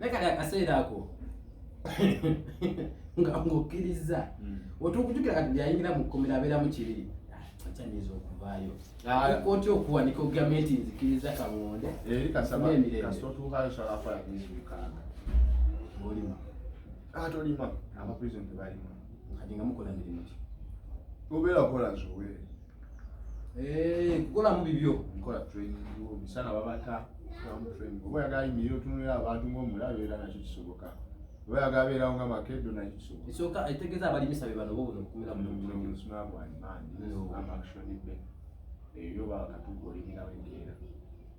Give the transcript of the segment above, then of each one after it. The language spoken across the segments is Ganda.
naye kati akaseera ako nga ng'okkirizza hmm. otuukujukira kati byayingira mu kkomera abeeramu kibiri akyanyinza ah, okuvaayo ah. otya okuwanika ogambye nti nzikiriza kamonde olima ah, tolima abaprison tebalima kati nga mukola mirimu ki obeera okola zowe Eh, kukolamu bibyo nkola training omusana babata oba yagala yimirira otunulira abantu ngaomulabe era nakyo kisoboka oba yagala beerawo nga makedo nakyo kisoboka esoka etegeeza abalimisa be bano bobuno okumira mumusuna gwanimandi amakshonibe ebyo bakatugolimirawo enkeera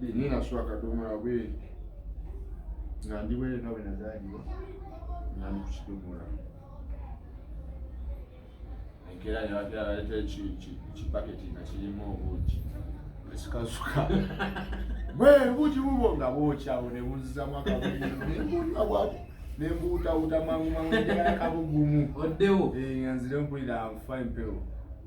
ninaswa kadomola bweri nga ndi bwere nga bwenazaliwa nga ndi kukidomola enkera nebagera baleta kipaketi nga kirimu obuugi ekikasuka bwe buugi bubwo nga bwokyawo nebuzzamu akabuugi nembuutawuta mangu mangu akabugumu oddewo eh, nga nzire mpulira nfa empewo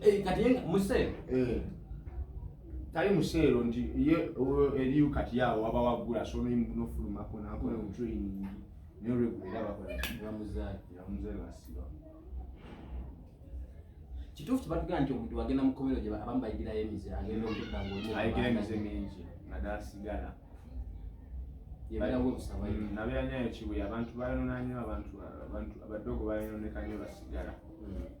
Eh, kati yenga museero eh. tali museero nti ye eriyo kati yawo waba wagula sono imunofulumako nakola omutraining naye olwegulera bakolaamuzaasiba kituufu kibatugera nti omuntu agenda mu komero gye abamu bayigirayo emize agenda okuddaayigire emize mingi naddala sigala nabeera nyayo kibuye abantu bayononanyo abantu abadogo bayononeka nyo basigala hmm.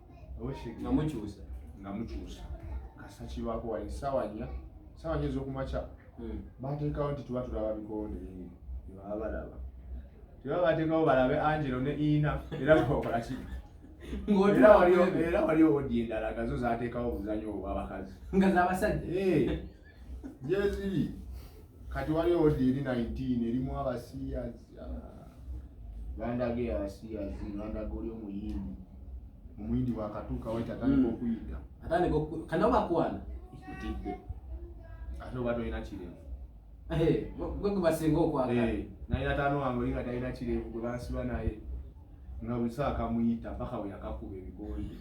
nga mukyusa nga mukyusa kasa kibaako wali ssaawa nnya ssaawa nnya ez'okumakya hmm. bateekawo nti tuba tulaba bikonde ebaba balaba tuba bateekawo balabe angelo ne ina era bakola ki era wali owodi endala gazo zateekawo obuzanyo obwabakazi nga zabasajja eh. gyeziri kati wali odi eri 19 erimu abasiyazi bandaga ah, abasiyazi bandaga oli omuyindi omuyindi wakatuuka wait atandika hmm. okuyita atandika kana bakwana otidde ate oba tolina kirevu gwe gwebasinga okwagala eh, naye ataano wange olinga talina kirevu gwe bansiba naye nga buli saa kamuyita paka weyakakuba ebigondi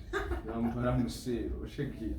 namutwala mu seero oshegera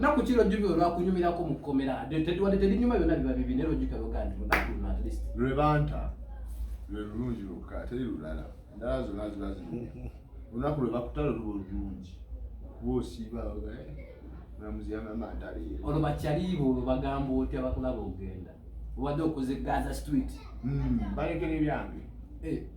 naku eh! kiro jubiro lwakunyumirako mu kkomera wadde terinyuma byona biba bibi naye lwojjuka lwogandi lwebanta lwe lulungi lwokka teri lulala endala zona ziba ziru olunaku lwe bakutala luba olulungi kuba osiiba mulamuzi yamama ntaleero olwo bakyaliiba olwo bagamba otya bakulaba ogenda obadde okuzigaza street hmm, balekera ebyange eh.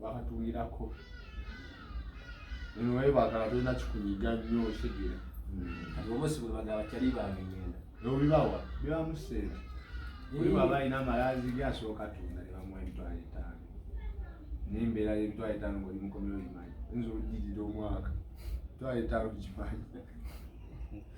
bakatungirako nwe bagala tolina kikunyiga nnyo okitegera kati obosi bwe bagala kyali bange ngenda obibawa bibamu sente oli bwaba alina amalazi ge asooka tunda ne bamuwa emitwalo etaano nembeera yemitwalo etaano ngaoli mukomera ogimanyi oyinza olugirira omwaka mitwalo etaano gimanyi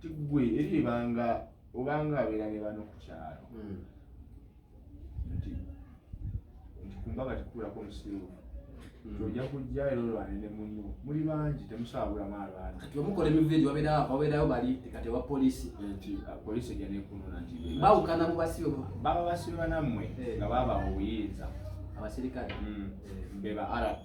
tigwe eri ebanga obanga abeera ne bano ku kyalo hmm. nti nti kumbaga tikukulako omusiiwufu hmm. ojja kujja era olwane ne munno muli bangi temusaabulamu abantu kati omukola emivu egyo wabeerayo bali kati wa polisi nti ah, polisi ejja nekunona nti bawukana mu basibe baba basibe banammwe eh. nga babawa obuyinza abaserikale hmm. eh. be ba rp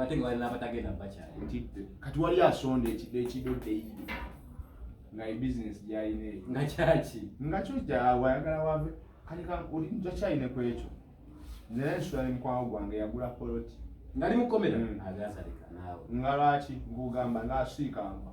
ate nga wali nabatagenda bakyali ntidde kati wali asonda ekide ekido deyidi nga ebizinesi gyalina eyo nga kyaki nga kyo gyawe ayagala wave kati olinja kyayine ku ekyo naye nsula ne mukwawo gwange yagula poloti ngali mukomera mm. agasalika naawe nga lwaki nkugamba nga asiikanva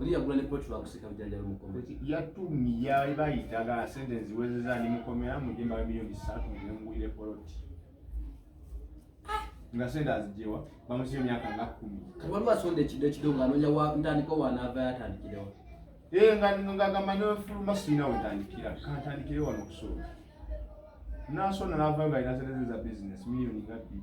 Oli yagula ne plot lwa kusika bijanjalo mukome. Yatumye yali bayita ga sente ziwezeza ni mukome ya mu jemba milioni 3 ne ngulire plot. Nga sente azijewa bamusiyo myaka nga 10. Kabali wasonde kido kido nga anonya wa ndani kwa wana ava yatandikirewa. Eh nga nga nga manyo fulu masina utandikira. Kantandikire wano kusoro. Nasona nava nga ina sente za business milioni ngapi?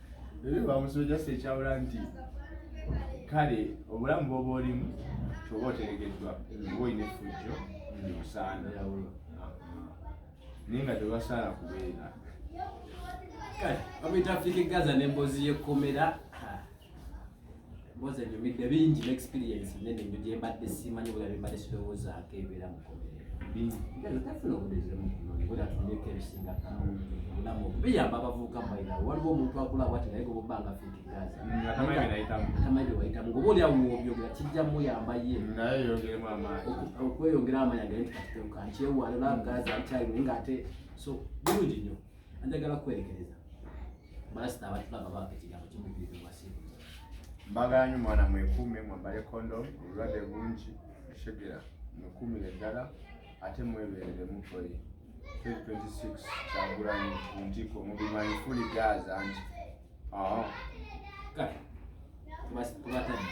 bamusuuja si ekyawula nti kale obulamu bwoba olimu kyoba oteregeddwa oba olina effujjo osaana naye nga tebasaala kubeera kale bamuyita afrika egaza n'emboozi y'ekkomera mbozi enyumidde bingi ne experience nene nyo gye mbadde simanyi bula bye mbadde sirowoozaako ebeera mu komerero tafuna obudezemu bula tunyeko ebisinga obulamu biyamba abavubuka mubaira waliwo omuntu akula bwati naye goboba nga fiti gaza atamanyi byewayitamu ngoba oli awo obyogera kijja muyamba ye okweyongera amaanyi agenti kati keuka nkyewalira gaza nkyalimu nga ate so bulungi nyo Anjagala kwerekereza. Balasita abatulaba baako ekigambo kimujjudde wasiibu. Mbagala nnyo mwana mwekuume mwambale kondomu obulwadde bungi oshegera mwekuumire ddala ate mwebeerere mukoye 2026 kyagulanyi ku ntikko mubimanyi fuli gaaza nti ah. kale tubatadde